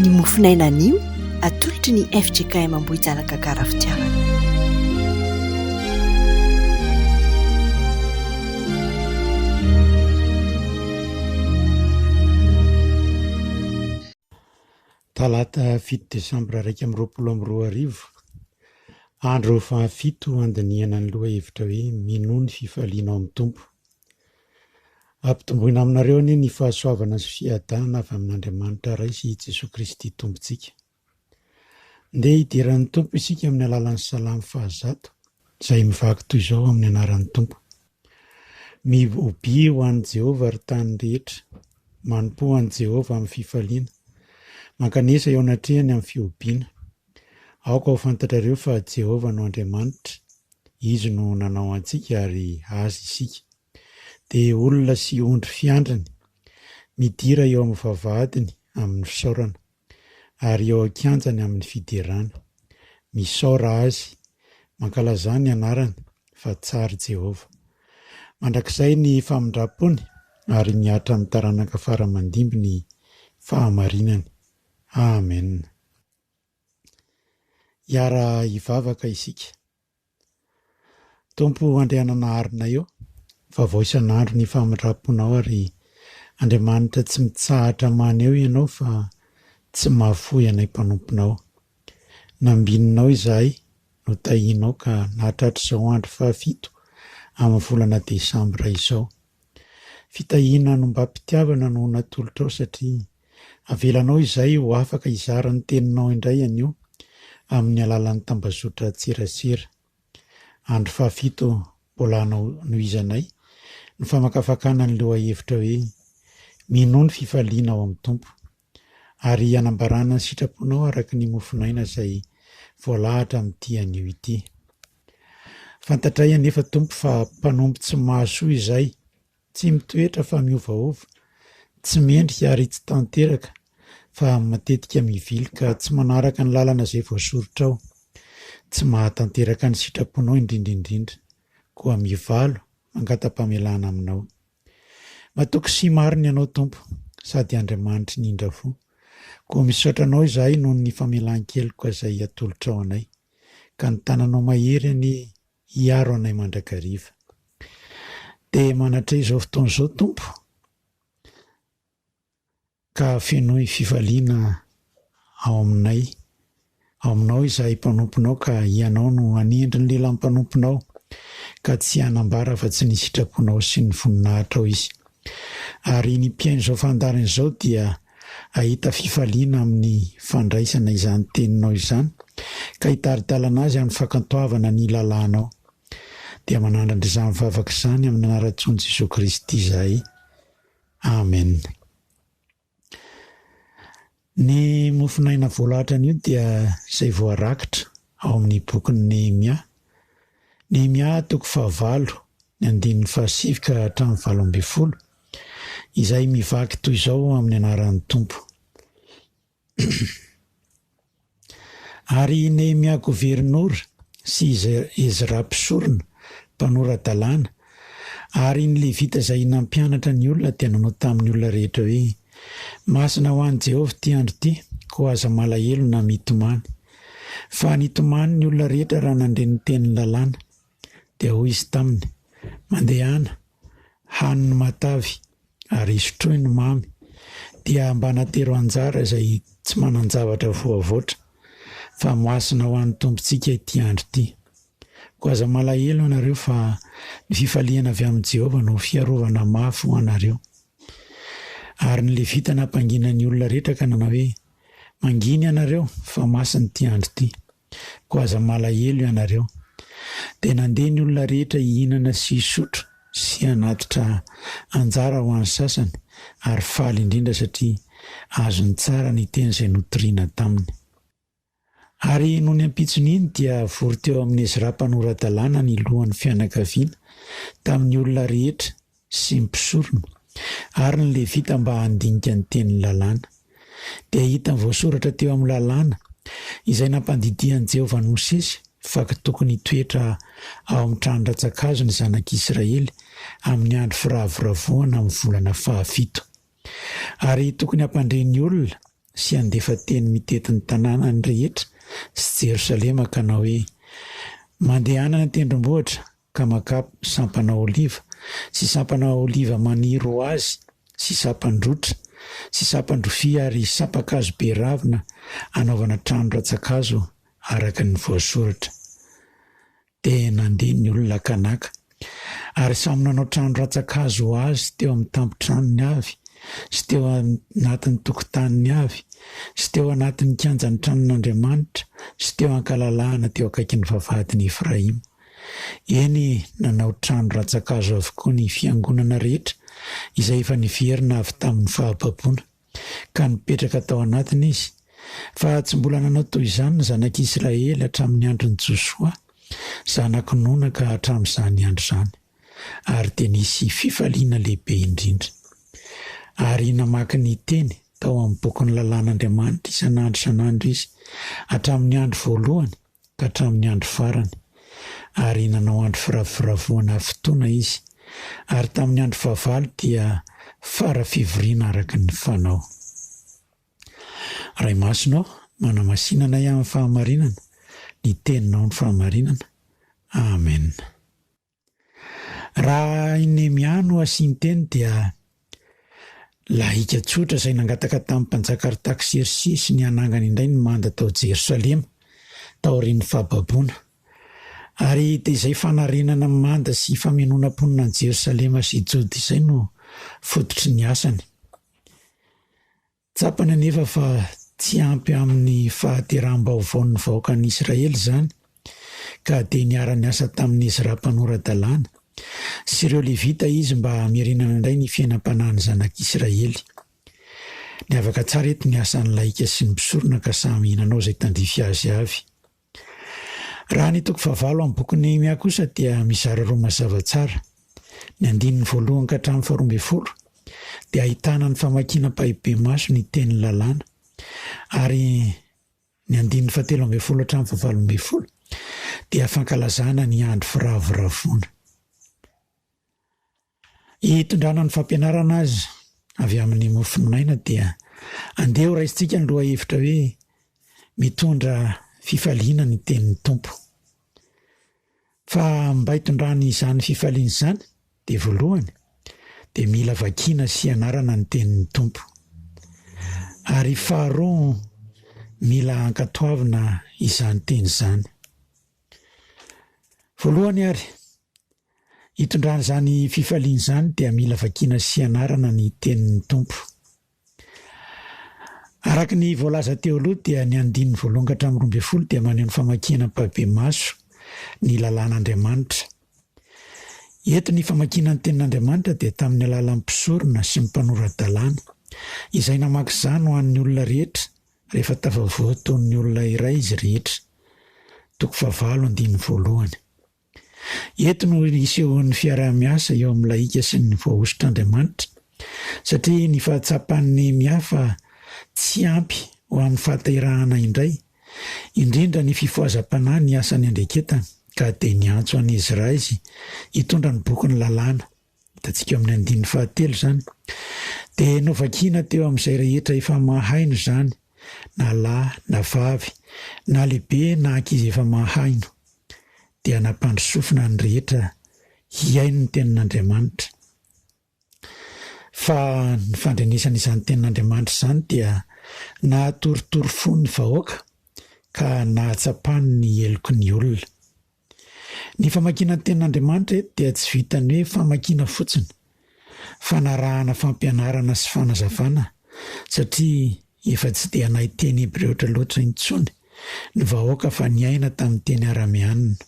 Ny mofon'aina anio atolotry ny fjkm Ambohijanaka Karafitiavana. Talata fito desambra iraika amby roapolo amby roa arivo, andro fahafito handinihana ny lohahevitra hoe Minoa ny fifalianao amin'ny Tompo. Ampitomboina aminareo anie ny fahasoavana sy fiadana avy amin'Andriamanitra Ray sy i Jesoa Kristy Tompontsika. Ndeha hidiran'ny Tompo isika amin'ny alalan'ny Salamo fahazato, izay mivaky toy izao amin'ny anaran'ny Tompo, Mihobia ho an'i Jehovah, ry tany rehetra, manompoa an'i Jehovah amin'ny fifaliana, mankanesa eo anatrehany amin'ny fihobiana, Aoka ho fantatrareo fa Jehovah no Andriamanitra, izy no nanao antsika ary azy isika. Dia olona sy ondry fiandriny, midira eo amin'ny vavahadiny amin'ny fisaorana, ary eo an-kianjany amin'ny fiderana. Misaora azy, mankalazà ny anarany, fa tsara Jehovah. Mandrakizay ny famindram-pony, ary mihatra amin'ny taranaka fara aman-dimby ny fahamarinany. Amena. Hiara-hivavaka isika. Tompo o Andriananaharinay ô, vavao isan'andro ny famindram-ponao ary Andriamanitra tsy mitsahatra maneho Ianao fa tsy mahafoy anay mpanomponao. Nambininao izahay, notahianao ka nahatratra izao andro fahafito amin'ny volana desambra izao. Fitahiana anombam-pitiavana no natolotrao satria avelanao izahay ho afaka hizara ny Teninao indray anio amin'ny alalan'ny tambazotran-tserasera. Andro fahafito mbola hanohizanay ny famakafakana ny lohahevitra hoe Minoa ny fifaliana ao amin'ny Tompo. Ary hanambarana ny sitraponao araka ny mofon'aina izay voalahatra amin'ity anio ity. Fantatray anefa, Tompo, fa mpanompo tsy mahasoa izay, tsy mitoetra fa miovaova, tsy mendrika ary tsy tanteraka, fa matetika mivily ka tsy manaraka ny lalana izay voasoritrao. Tsy mahatanteraka ny sitraponao indrindra indrindra. Koa mivalo, mangata-pamelana aminao. Matoky sy marina Ianao Tompo, sady Andriamanitry ny indra fo. Koa misaotra Anao izahay noho ny famelan-keloka izay atolotrao anay, ka ny tananao mahery anie hiaro anay mandrakariva. Dia manatreha izao fotoana izao Tompo, Ka fenoy fifaliana ao aminay, ao aminao izahay mpanomponao, ka hianao no hanendry ny lehilahy mpanomponao, ka tsy hanambara afa-tsy ny sitraponao sy ny voninahitrao izy. Ary ny mpihaino izao fandaharana izao dia hahita fifaliana amin'ny fandraisana izany teninao izany, ka hitari-dalana azy amin'ny fakantoavana ny lalànao. Dia manandrandra izany vavaka izany amin'ny anaran-tsoan'i Jesoa Kristy izahay. Amen. Ny mofon'aina voalahatra anio dia izay voarakitra ao amin'ny bokin'i Nehemia. Nehemia toko fahavalo, ny andininy fahasivy ka hatramin'ny valo ambin'ny folo, izay mivaky toy izao amin'ny anaran'ny Tompo. Ary i Nehemia governora sy i Ezra mpisorona, mpanora-dalàna, ary ny Levita izay nampianatra ny olona dia nanao tamin'ny olona rehetra hoe, Masina ho an'i Jehovah ity andro ity, koa aza malahelo na mitomany. Fa nitomany ny olona rehetra raha nandre ny tenin'ny lalàna. Dia hoy izy taminy, Mandehana, hano ny matavy, ary isotroy ny mamy, dia mba natero anjara izay tsy manan-javatra voavoatra, fa masina ho an'ny Tompontsika ity andro ity. Koa aza malahelo ianareo, fa ny fifaliana avy amin'i Jehovah no fiarovana mafy ho anareo. Ary ny Levita nampangina ny olona rehetra ka nanao hoe, Mangina ianareo, fa masina ity andro ity. Koa aza malahelo ianareo. Dia nandeha ny olona rehetra hihinana sy hisotro sy hanatitra anjara ho an'ny sasany, ary faly indrindra satria azony tsara ny teny izay notoriana taminy. Ary nony ampitsony iny dia vory teo amin'i Ezra mpanora-dalàna ny lohan'ny fianakaviana, tamin'ny olona rehetra sy ny mpisorona, ary ny Levita mba handinika ny tenin'ny Lalàna. Dia hitany voasoratra teo amin'ny Lalàna, izay nampandidian'i Jehovah an'i Mosesy, fa tokony hitoetra ao amin'ny tranon-dRatsakazo ny zanak'Israely amin'ny andro firavoravoana amin'ny volana fahafito. Ary tokony hampandre ny olona sy handefa teny mitety ny tanànany rehetra sy Jerosalema ka hanao hoe, Mandehana any an-tendrombohitra, ka makà sampana oliva, sy sampana oliva maniry ho azy, sy sampan-drotra, sy sampan-drofia ary sampan-kazo be ravina hanaovana trano rantsan-kazo araka ny voasoratra. Dia nandeha ny olona ka naka, ary samy nanao trano rantsan-kazo ho azy teo amin'ny tampon-tranony avy, sy teo anatin'ny tokotaniny avy, sy teo anatin'ny kianjan'ny tranon'Andriamanitra, sy teo an-kalalahana teo akaikin'ny vavahadin'i Efraima. Eny, nanao trano rantsan-kazo avokoa ny fiangonana rehetra izay efa niverina avy tamin'ny fahababoana, ka nipetraka tao anatiny izy. Fa tsy mbola nanao toy izany ny zanak'Israely hatramin'ny andron'i Josoa, zanak'i Nona ka hatramin'izany andro izany. Ary dia nisy fifaliana lehibe indrindra. Ary namaky ny Teny tao amin'ny Bokin'ny Lalàn'Andriamanitra isan'andro isan'andro izy, hatramin'ny andro voalohany ka hatramin'ny andro farany, ary nanao andro firavoravoana ary fotoana izy, ary tamin'ny andro fahavalo dia fara fivoriana araka ny fanao. Ray Masina ô, manamasina anay amin'ny fahamarinana, ny Teninao no fahamarinana. Amen. Raha i Nehemia no asian-teny dia lahika tsotra izay nangataka tamin'ny Mpanjaka Artaksersesy ny hanangana indray ny manda tao Jerosalema taorian'ny fahababoana. Ary dia izay fanarenana ny manda sy famenoana mponina an'i Jerosalema sy Joda izay no fototry ny asany. Tsapany anefa fa tsy ampy amin'ny fahateraham-baovaon'ny vahoakan'i Israely izany, ka dia niara-niasa tamin'i Ezra mpanora-dalàna, sy ireo Levita izy mba hamerenana indray ny fiainam-panahin'ny zanak'Israely. Niavaka tsara eto ny asan'ny laika sy ny mpisorona ka samy nanao izay tandrify azy avy. Raha ny toko fahavalo amin'ny bokin'i Nehemia kosa dia mizara roa mazava tsara. Ny andininy voalohany ka hatramin'ny faharoa ambin'ny folo dia ahitana ny famakiana ampahibemaso ny tenin'ny lalàna ary ny andininy fahatelo ambin'ny folo hatramin'ny fahavalo ambin'ny folo dia fankalazana ny andro firavoravoana. Hitondrana ny fampianarana aza avy amin'ny mofon'aina dia andeha ho raisintsika ny lohahevitra hoe Mitondra fifaliana ny tenin'ny Tompo. Fa mba hitondrany izany fifaliana izany dia voalohany dia mila vakiana sy ianarana ny tenin'ny Tompo. Ary faharoa mila ankatoavina izany teny izany. Voalohany ary, Hitondrany izany fifaliana izany dia mila vakiana sy ianarana ny tenin'ny Tompo. Araka ny voalaza teo aloha dia ny andininy voalohany ka hatramin'ny roa ambin'ny folo dia maneho ny famakiana ampahibemaso ny lalàn'Andriamanitra. Eto ny famakiana ny tenin'Andriamanitra dia tamin'ny alalan'ny mpisorona sy ny mpanora-dalàna. Izay namaky izany ho an'ny olona rehetra rehefa tafavoa toy ny olona iray izy rehetra. Toko fahavalo andininy voalohany. Eto no isehoan'ny fiaraha-miasa eo amin'ny lahika sy ny voahosotr'Andriamanitra, satria ny fahatsapan'ny miahy fa tsy ampy ho amin'ny fahaterahana indray, indrindra ny fifohazam-panahy ny asan'ny andreketany, ka dia niantso an'i Ezraizy hitondra ny bokin'ny Lalàna. Hitantsika amin'ny andininy fahatelo izany. Dia novakina teo amin'izay rehetra efa mahaino izany, na lahy na vavy, na lehibe na ankizy efa mahaino. Dia nampandrosofina ny rehetra hihaino ny Tenin'Andriamanitra. Fa ny fandrenesana izany Tenin'Andriamanitra izany dia nahatoritory fo ny vahoaka, ka nahatsapany ny heloky ny olona. Ny famakiana ny Tenin'Andriamanitra eto dia tsy vitan'ny hoe famakiana fotsiny, fanarahana fampianarana sy fanazavana, satria efa tsy dia nahay teny hebreotra loatra intsony ny vahoaka fa niaina tamin'ny teny arameanina.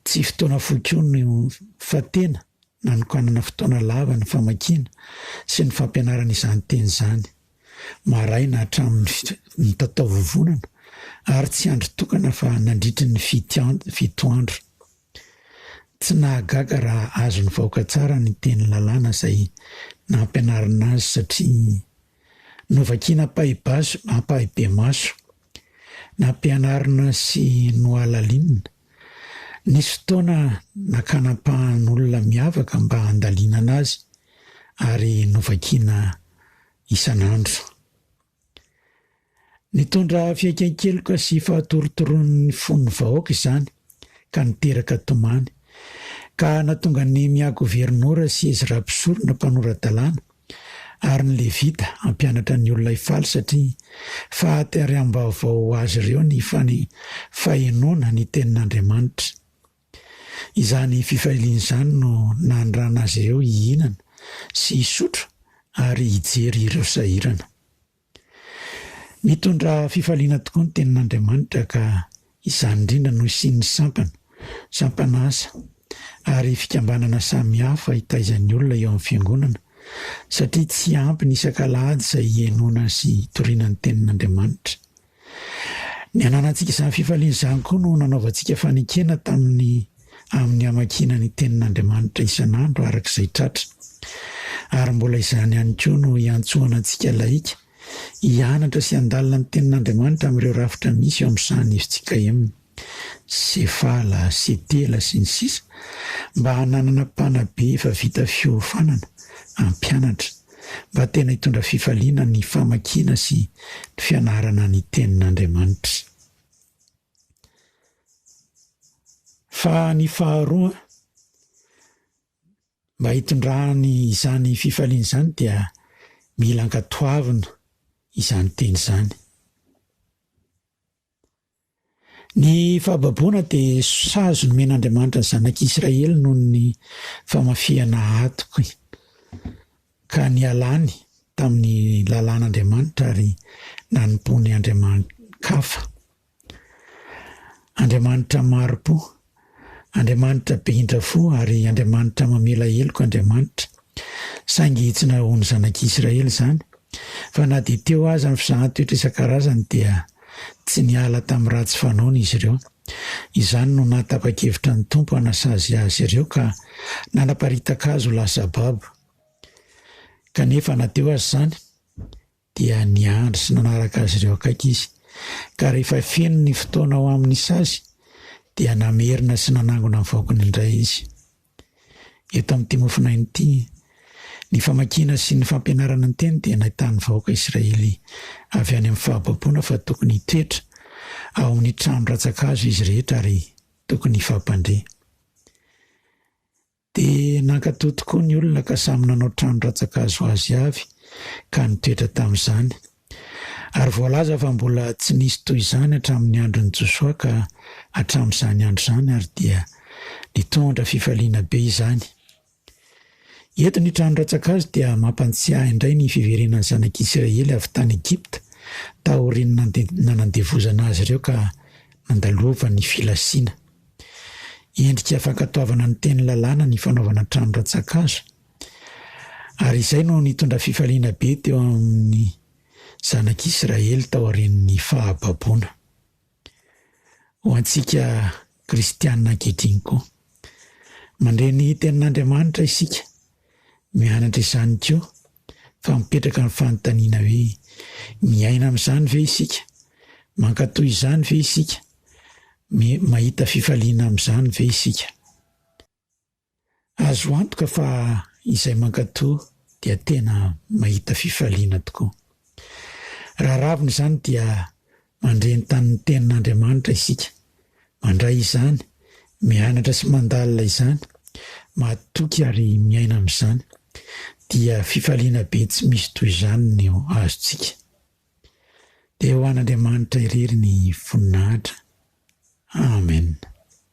Tsy fotoana fohy koa no fa tena nanokanana fotoana lava ny famakiana sy ny fampianarana izany teny izany. maraina hatramin'ny mitataovovonana ary tsy andry tokana fa nandritry ny fito andro. Tsy nahagaga raha azony vaoka tsara ny teny lalàna izay nampianarina azy satria novakiana ampahibemaso. Nampianarina sy nohalalinina. Nisy fotoana nakanampahan'olona miavaka mba handalinana azy ary novakiana isan'andro. Nitondra fihaikain-keloka sy fahatorotoron'ny fon'ny vahoaka izany ka niteraka tomany, ka nahatonga ny Miagoverinora sy Ezra Mpisorona, Mpanora-dalàna, Ary ny Levita hampianatra ny olona hifaly satria fahatehariam-baovao ho azy ireo ny fahenoana ny Tenin'Andriamanitra. Izany fifaliana izany no nandrana azy ireo hihinana sy hisotro ary hijery ireo sahirana. Mitondra fifaliana tokoa ny Tenin'Andriamanitra ka izany indrindra no hisian'ny sampana, sampana asa ary fikambanana samihafa hitaizan'ny olona eo amin'ny Fiangonana satria tsy ampy ny isak'Alahady izay hihenoana sy hitoriana ny Tenin'Andriamanitra. Ny ananantsika izany fifaliana izany koa no nanaovantsika fanekena tamin'ny amin'ny hamakiana ny Tenin'Andriamanitra isan'andro araka izay tratra. Ary mbola izany ihany koa no iantsoana antsika lahika hianatra sy handalina ny Tenin'Andriamanitra amin'ireo rafitra misy eo amin'ny sahan'ny FJKM. Sefala, setela, sy ny sisa Mba hananana mpanabe efa vita fiofanana hampianatra mba tena hitondra fifaliana ny famakiana sy ny fianarana ny Tenin'Andriamanitra. Fa ny faharoa, mba hitondrany izany fifaliana izany dia mila ankatoavina izany teny izany. Ny fahababoana dia sazy nomen'Andriamanitra ny zanak'i Israely noho ny famafihana atoky, ka nialany tamin'ny lalàn'Andriamanitra ary nanompoany andriamani-kafa, andriamanitra maro-po. Andriamanitra be indra fo ary Andriamanitra mamela heloka Andriamanitra. Saingy tsy nahahoan'ny zanak'i Israely izany, fa na dia teo aza ny fizahan-toetra isan-karazany dia tsy niala tamin'ny ratsy fanaony izy ireo. Izany no nahatapa-kevitra ny Tompo hanasazy azy ireo ka nanaparitaka azy ho lasa babo. Kanefa na teo aza izany, dia niandry sy nanaraka azy ireo akaiky izy. Ka rehefa feno ny fotoana ho amin'ny sazy, dia namerina sy nanangona ny vaokiny indray izy. Eto amin'ity mofonaina ity, ny famakiana sy ny fampianarana ny teny dia nahitan'ny vahoaka Israely avy any amin'ny fahababoana fa tokony hitoetra ao amin'ny trano rantsa-kazo izy rehetra ary tokony hifampandre. Dia nankatò tokoa ny olona ka samy nanao trano rantsankazo azy avy ka nitoetra tamin'izany. Ary voalaza fa mbola tsy nisy toy izany hatramin'ny andron'i Josoa ka hatramin'izany andro izany ary dia nitondra fifaliana be izany. Eto ny trano rantsankazo dia mampantsiahy indray ny fiverenan'ny zanak'Isiraely avy tany Egypta taorian'ny nanandevozana azy ireo ka nandalovan'ny filasiana. Endrika fankatoavana ny teny lalàna ny fanaovana trano rantsankazo, ary izay no nitondra fifaliana be teo amin'ny zanak'i Israely taorian'ny fahababoana. Ho antsika Kristianina ankehitriny koa, mandre ny Tenin'Andriamanitra isika, mianatra izany koa Fa mipetraka ny fanontaniana hoe, miaina amin'izany ve isika? Mankatò izany ve isika? Mahita fifaliana amin'izany ve isika? Azo antoka fa izay mankatò dia tena mahita fifaliana tokoa. Raha ravina izany dia Mandre ny tanin'ny Tenin'Andriamanitra isika, mandray izany, mianatra sy mandalina izany, matoky ary miaina amin'izany, dia fifaliana be tsy misy toy izany no azontsika. Dia ho an'Andriamanitra irery ny voninahitra. Amen.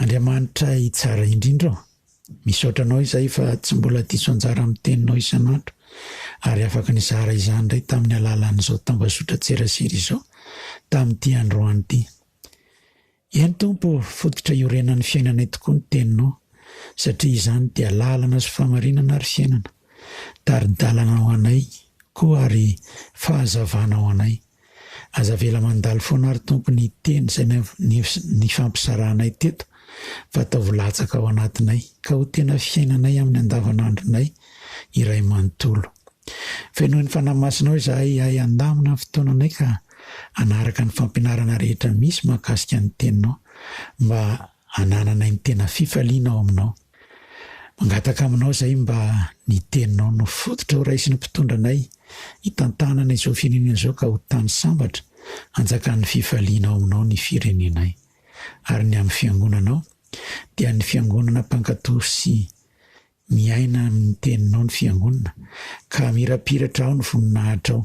Andriamanitra i Tsara indrindra ô! Misaotra anao izahay fa tsy mbola diso anjara amin'ny Teninao isan'andro ary afaka nizara izany indray tamin'ny alalan'izao tambazotran-tserasera izao tamin'ity androany ity. Eny Tompo ô, fototra iorenan'ny fiainanay tokoa ny Teninao satria izany dia lalana sy famarinana ary fiainana, tari-dalana ho anay koa ary fahazavana ho anay. Aza avela mandalo foana ary Tompo ny teny izay nifampizaranay teto fa ataovy latsaka ao anatinay ka ho tena fiainanay amin'ny andavanandronay iray manontolo. Fenoin'ny Fanahy Masinao izahay hiahy handamina ny fotoananay ka hanaraka ny fampianarana rehetra misy mahakasika ny Teninao mba hanananay ny tena fifaliana ao Aminao. Mangataka Aminao izahay mba ny Teninao no fototra ho raisin'ny mpitondra anay hitantanana izao firenena izao ka ho tany sambatra hanjakan'ny fifaliana ao Aminao ny firenenay. Ary ny amin'ny Fiangonanao dia ny Fiangonana mpankato sy Miaina amin'ny Teninao ny Fiangonana, ka hamirapiratra ao ny voninahitrao.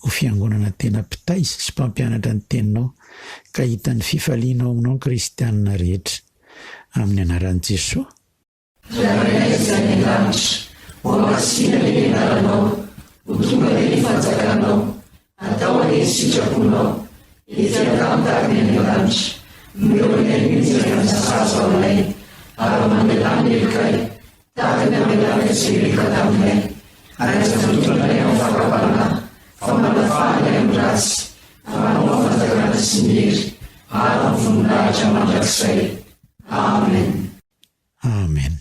Ho Fiangonana tena mpitaiza sy mpampianatra ny Teninao, ka hitan'ny fifalianao aminao ny kristiana rehetra. Amin'ny Anaran'i Jesoa. Ry Rainay izay any An-danitra. Hohamasinina ny Anaranao. Ho tonga dia ny Fanjakanao. Atao anie ny sitraponao ety an-damin-tany any an-danitra no eo anay mihitsy ry Anasazy aolay ary mamelà ny helokay tahaka ny amelanay izay rehefa taminay ary aza tondranay amin'ny fakam-panahy fa manafaha ny amin'ny ratsy anao ny fanjakana sy ny hery ary ny voninahitra mandrakizay. Amen. Amen.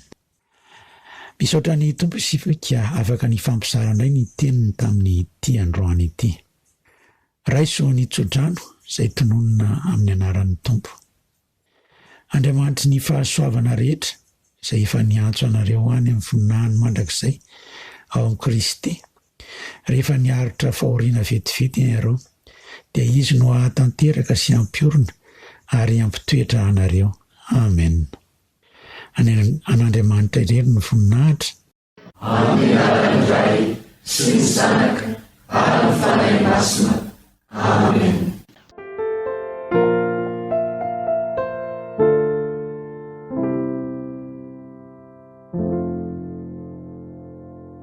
Misaotra ny Tompo isika ka afaka nifampizara indray ny teniny tamin'ity androany ity. Raiso ny tsodrano izay tononina amin'ny anaran'ny Tompo. Andriamanitry ny fahasoavana rehetra izay efa niantso anareo any amin'ny voninahiny mandrakizay ao amin'i Kristy Rehefa miaritra fahoriana vetivety ianareo, dia Izy no hahatanteraka sy hampiorina ary hampitoetra anareo. Amen. Any an' Andriamanitra irery ny voninahitra. Amin' ny anaran' ny Ray sy ny Zanaka ary ny Fanahy Masina. Amen.